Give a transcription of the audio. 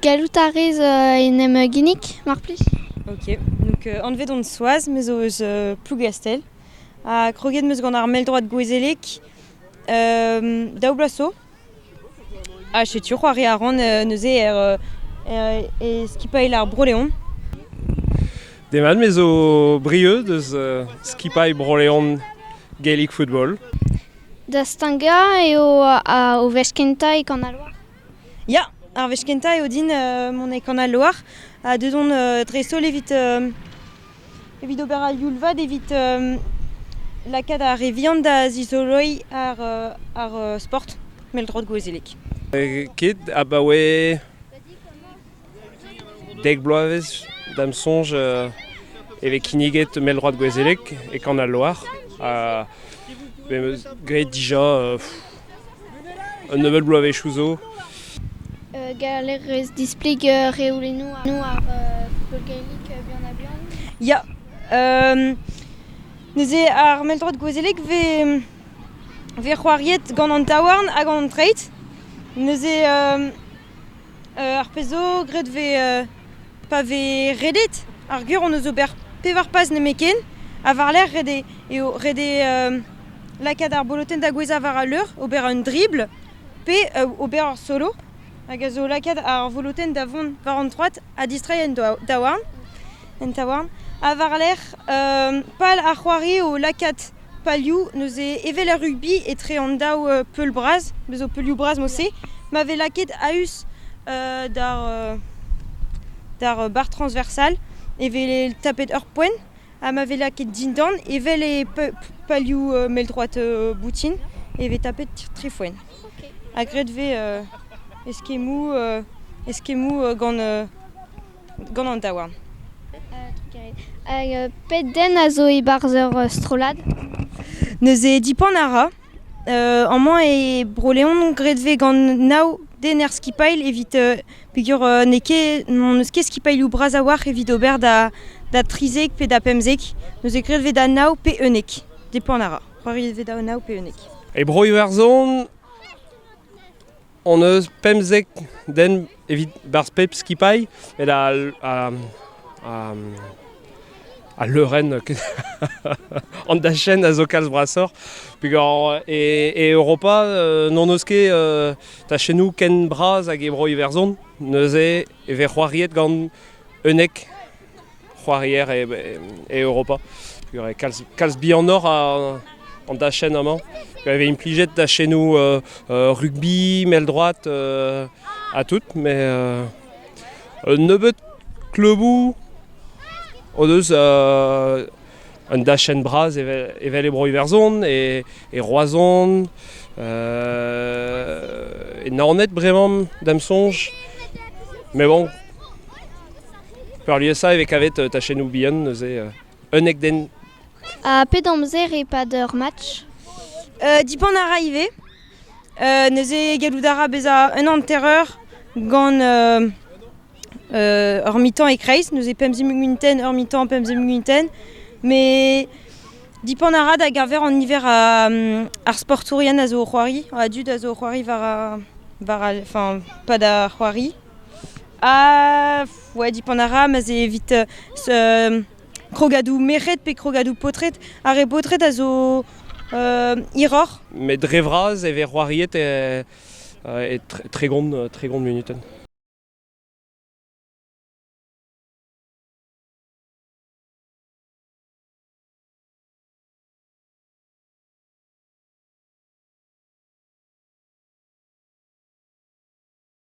Gallout a rez en em ginnig, mar plij. Ok, donc euh, anvet on Soaz, me zo eus euh, Plougastell. Ha kroget meus gant ar mell-droad gouezelek euh, daou bloaz zo. Ha setu c'hoari a ran euh, neuze er, er, e skipailh ar Bro-Leon. Demat me zo brieux deus skipailh Bro-Leon Gaelic Football. Da stagañ eo o wech kentañ e Kanaloar. Ya, ar wech kentañ eo din mont e Kanaloar ha deuet on dreist-holl evit evit ober al youl-vat evit lakaat ar re vihan da zizoloiñ ar sport mell-drot gouezelek. Ket abaoe Dek bloavezh da'm soñj e vez kinniget mell-droad gouezelek e Kan al Loar ha be'm eus graet dija un nebeud bloavezhioù zo. Gallerez displeg reolennoù ar pellgomzik buan-ha-buan Ya, neuze ar mell-droad gouezelek vez c'hoariet gant an taouarn hag an treid neuze Ar pezh zo graet vez pa vez redet ar geur hon eus ober pevar paz nemetken ha war-lerc'h ret eo eo ret eo lakaat ar bolotenn da gouezhañ war al leur, ober un dribl pe ober ur solo hag a zo lakaat ar volotenn da vont war an troad ha distreiñ en daouarn. En taouarn ha war-lerc'h pal ar c'hoari eo lakaat palioù neuze evel er rugby etre an daou peul bras bezo peulioù bras mod-se ma vez lakaet a-us d'ar d'ar barr transversal e vez tapet ur poent ha ma vez lakaet dindan evel e palioù mell-droad boutin e vez tapet tri foent ha graet 'vez eskemmoù eskemmoù gant gant an daouarn. Hag pet den a zo e-barzh ur strollad? Neuze dipan a ra. amañ e Bro-Leon graet vez gant nav den er skipailh evit peger n'eo ket n'hon eus ket skipailhoù bras a-walc'h evit ober da da trizek pe da pemzek. Neuze graet vez da nav pe unnek. Depan a ra. C'hoari vez da nav pe unnek. E broioù Arzhon hon eus pemzek den evit berzh pep skipailh met al leurenn an dachenn a zo kalz brasoc'h peogwir e Europa n'hon eus ket tachennoù ken bras hag e Bro-Iwerzhon neuze e vez c'hoariet gant unnek c'hoarier e, Europa. Kalz, bihanoc'h an dachenn amañ. Je vez implijet dachennoù euh, euh, rugby, mel droite, euh, à tout, mais un nebeut kleuboù o deus un dachenn bras evel, e Bro Iwerzhon et, Roazhon. et Naoned, vraiment, d'am songe. Mais bon, Peurliesañ e vez kavet tachennoù bihan neuze unnek den. Ha pet amzer e-pad ur match Dipan a ra ivez. neuze gallout a ra bezañ un hanter-eur gant ur mi-temps e-kreiz, neuze pemp zimunuten, ur mi-temps, pemp zimunuten. Mais dipan a ra da geñver an niver ar sportourien a zo o c'hoari, a dud a zo o c'hoari war, war, enfin, pas da c'hoari. Ouais, dipant a ra, ma'z eo evit krogadoù merc'hed pe krogadoù paotred. Ar re baotred a zo hiroc'h. Met dre vras e vez c'hoariet e, e tregont, tregont munutenn.